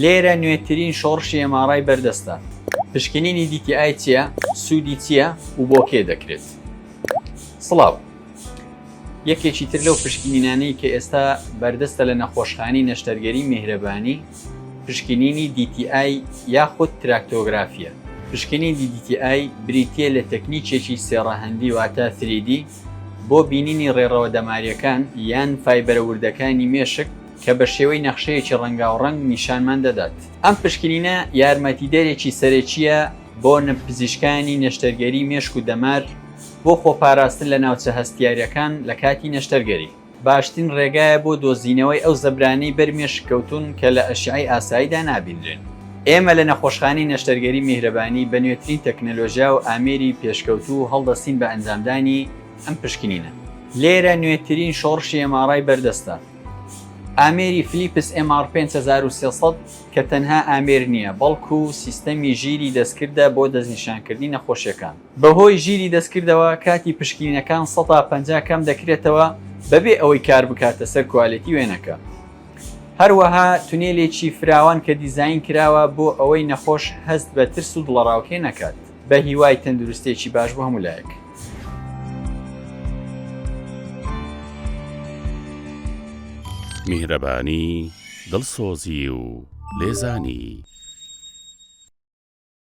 لێرە نوێترین شۆڕشی ئێماڕای بەردەستە. پشکنینی دیتی ئای چییە، سوودی چییە و بۆ کێ دەکرێت؟ سڵاو. یەکێکی تر لەو پشکنینانەی کە ئێستا بەردەستە لە نەخۆشخانەی نەشتەرگەری میهرەبانی، پشکنینی دیتی ئای یاخود تراکتۆگرافییە. پشکنینی دیتی ئای بریتییە لە تەکنیکێکی سێ ڕەهەندی واتە تری دی بۆ بینینی ڕێڕەوە دەمارییەکان یان فایبەرە وردەکانی مێشک کە بە شێوەی نەخشەیەکی ڕەنگاوڕەنگ نیشانمان دەدات. ئەم پشکنینە یارمەتیدەرێکی سەرەکییە بۆ پزیشکانی نەشتەرگەری مێشک و دەمار بۆ خۆپاراستن لە ناوچە هەستیارەکان لە کاتی نەشتەرگەری. باشترین ڕێگایە بۆ دۆزینەوەی ئەو زەبرانەی بەر مێشک کەوتوون کە لە ئەشیعەی ئاساییدا نابینرێن. ئێمە لە نەخۆشخانەی نەشتەرگەری میهرەبانی بە نوێترین تەکنەلۆژیا و ئامێری پێشکەوتوو هەڵدەستین بە ئەنجامدانی ئەم پشکنینە. لێرە نوێترین شۆڕشی ئێماڕای بەردەستە. ئامێری فلیپس MR 5300 کە تەنها ئامێر نییە، بەڵکو سیستەمی ژیری دەستکردە بۆ دەستنیشانکردنی نەخۆشیەکان. بەهۆی ژیری دەستکردەوە کاتی پشکنینەکان سەتا پەنجا کەم دەکرێتەوە بەبێ ئەوەی کار بکاتە سەر کوالێتی وێنەکە. هەروەها تونێلێکی فراوان کە دیزاین کراوە بۆ ئەوەی نەخۆش هەست بە ترس و دڵەڕاوکێ نەکات. بە هیوای تەندروستێکی باش بۆ هەموو لایەک. میهرەبانی دڵسۆزی و لێزانی